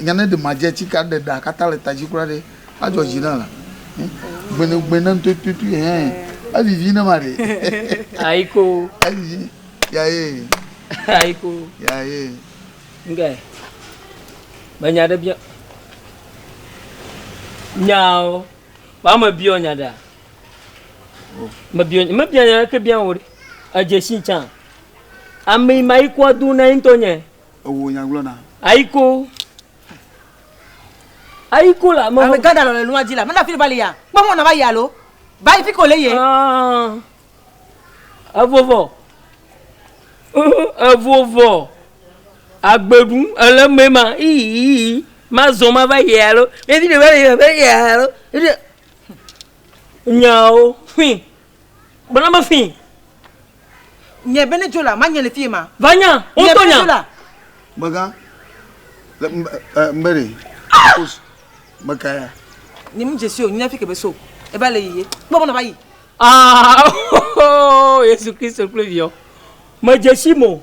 Nya ne ɖe ma dze tsi ka ɖe ɖa kata le tadzi kura ɖe a dzɔ dzi na la eh, gbene gbene ntototo eh evivi ne ma ɖe ayiko evivi ya ye ayiko ya ye nge me nya ɖe bia nyao ba me bia nya ɖa oh. me bia me bia nya ke bia wo edze si tsa ame ma yi kwa do na yin to nye Ewò nya gblɔ na. Ayiko. Ayiko la me. Ame gada le nua dzi la. Mena fili bali ya. Kpɔ mɔ na va ya lo. Bali fi ko le ye. Ah. Evovɔ. Evovɔ. Agbeɖu ele me ma. Ii. Ma zɔ ma va ya lo. Ebi de va ya va ya lo. Nyawo. Fin. Gblɔ na me fĩi. Nye Benedzola, manye le fie ma. Va nya, wotɔ nya. Megã, le mbere, kos, meka ya. Nye mu dzesi o, nye fi kebe so, eba le yiye, kpɔ mɔna va yi. Ah, oh, Yesu Kristo kple viɔ. Me dzesi mo,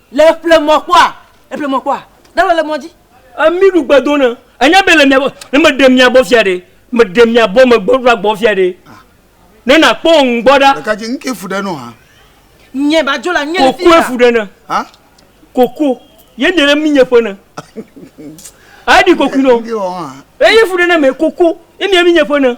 Le ƒle mɔ kpɔa, le ƒle mɔ kpɔa, ɖalɔ le mɔ dzi. Emi ɖu gbedo ne, enya be le mia gbɔ, ne me ɖe mia gbɔ fia ɖe, me ɖe mia gbɔ me gbɔ ɖa gbɔ fia ɖe, ne na kpɔ ŋu gbɔ ɖa. Ɖeka dzi, ŋke fu ɖe nɔ ha. Nye ba dzo la, nye le fi ya. Koko fu ɖe ne. Ha? Koko, ye nye le mi nye ƒe ne. Ayi ɖi koku nɔ. Eye fu ɖe ne me koko, ye mi mi nye ƒe ne.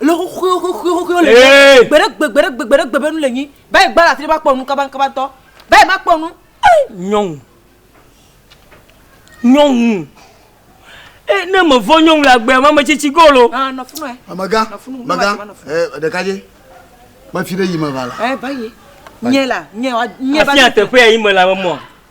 le xoxoxoxoxoxo le Ee. gbe ɖe gbe gbe ɖe gbe gbe ɖe gbe be nu le nyi ba yi gba la tri ba kpɔ nu kabaŋkabaŋtɔ ba yi ma kpɔ nu nyɔnu nyɔnu e ne me vɔ nyɔnu le agbea ma me tsitsi go lo ah nɔ funu ɛ Amega, nɔ funu mega, nɔ funu eh, ɖeka dzi. Mafi ɖe yi me va la. ɛ ba yi nye la nye wa nye ba afia teƒe ya yi me la me mɔ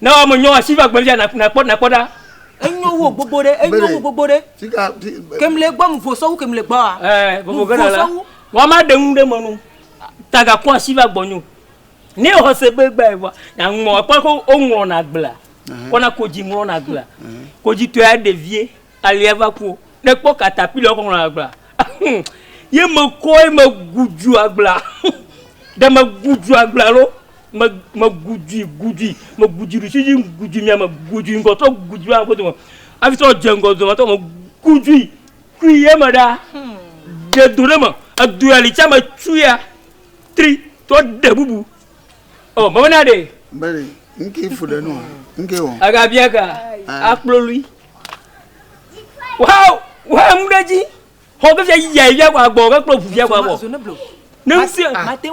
Ne wò me nyɔ asi va gbevia na na kpɔ na kpɔ ɖa. Enyo wo gbogbo ɖe enyo wo gbogbo ɖe. Sika ti. Kemle gbɔ mu vosɔwu kemle gbɔ a. Ɛɛ vovo gana la. Wa ma ɖe nu ɖe me nu. Taga kɔ asi va gbɔ nyo. Ne wò se be gba ewa na ŋmɔ ekpɔ ko o ŋmɔ na gbla. Kɔ na kodzi ŋmɔ na gbla. Kodzi tɔe ɖevie. Alea va ku o. Ne kpɔ katapila woxɔ ŋlɔna agblea, hum, ye me kɔ ye me gu dzu agblea, hum, ɖe me gu dzu agblea alo me me gu dzui gu dzui, me gu dzui ɖusi dzi, gu dzui mia me, gu dzui ŋgɔ trɔ gu dzui aƒe dome, hafi trɔ dze ŋgɔ dome trɔ me gu dzui kui ye me ɖa, hum, ɖe do ɖe me, edo ya li tsa me tsu ya tri trɔ ɖe bubu. Ɔ, me bena ɖe. Bene, ŋkee fu ɖe nua, ŋkee wɔ. Aga bia ka? Akplo lui. Wow! Wow! Mu ɖe dzi. Xɔ ke fia yiyia fia kɔ agbɔ ke kple ʋu fia kɔ agbɔ. Ne mu sia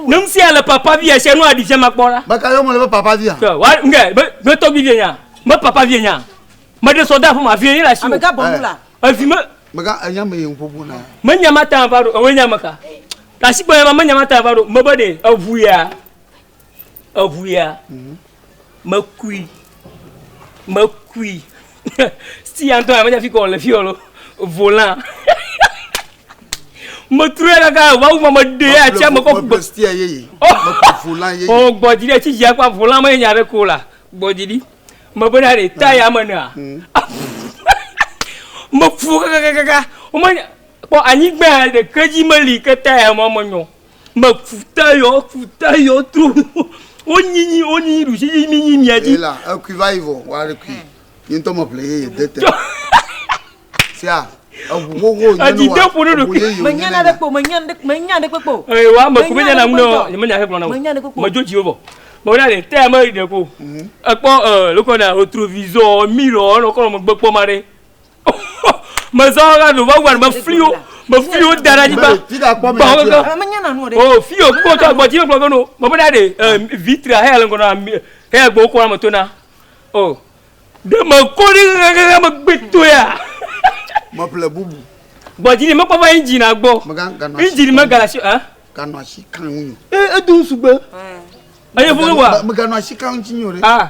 ne mu sia le papa vi esia nu aɖi fia ma kpɔ la. Meka yɔ mele be papa via. Tɔ wa nge be be tɔgbi vie nya. Me papa vie nya. Me ɖe sɔ de aƒe ma vie ye le asi. Ameka bɔ nu la. Evi me. Meka enya me ye ŋƒoƒo na. Me nya ma ta va ɖo ewe nya meka. Tasi gbɔ ya ma me nya ma ta va ɖo me be ɖe eʋu ya. Eŋuya, mekui, mekui. Siti ya ŋutɔ menye fike wòle fiya o. Volant. Metrɔe kaka ʋawu ma meɖee atia me kɔ gbe. Siti ya yeye. Mekɔ volant yeye. O gbɔdzi ɖe tsi dzia kpa volant menye nya ɖe ko la. Gbɔdzi ɖi. Mebe na ɖe ta ya me nea. Meku kakakaka. Wome kpɔ anyigba ɖeke dzi meli ke ta ya ma menyɔ. Me ku te yɔ ku te yɔ tro wo nyinyi wo nyinyi ɖusi yi mi nyi mia dzi. ela ekui va yi vɔ wa ɖe kui yi ŋutɔ me ƒle ye ye de te sia eʋu xoxo nye ne wa eʋu ye yi o nye ne kpo me nya ɖe me nya ɖe kpekpe o. ee wa me ku me nya na ŋu ne wa me nya ɖe kplɔ na o me dzo dzi wo vɔ me wona ne te ame ɖe ko ekpɔ ee lokɔ na o trovizɔ mi lɔ enɔ kɔ nɔ megbe kpɔ ma ɖe. mezɔ la no va wani mefli wo mefli wo da ɖe anyigba bawo ke o fi o kpɔ tɔ gbɔdzi yɛ gblɔ ke no mɔmɔ ɖa de ɛ vitria hɛ le ŋgɔ na mi hɛ gbɔ wokɔ na me to na o de me ko ɖe ŋɛŋɛŋɛ me gbe to ya. meƒle bubu. gbɔdzi ni mekpɔ va injin na gbɔ injin me galasi ɛ. ganɔ asi kan ŋu. e edu sugbe. eye fún wa. meganɔ asi kan ŋu ti nyo ɖe.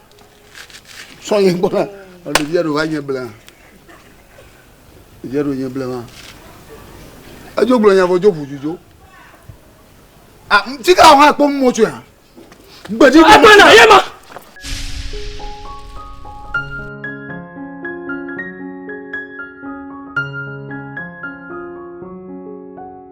sɔ yɛ gbɔ na ɖevi aɖewo va nye blema ɖevi aɖewo nye blema edzo gblɔ nya vɔ dzo ƒu dzudzo a ti ka hã kpɔ mɔ tso ya gbedzi gbɔ mɔ tso ya.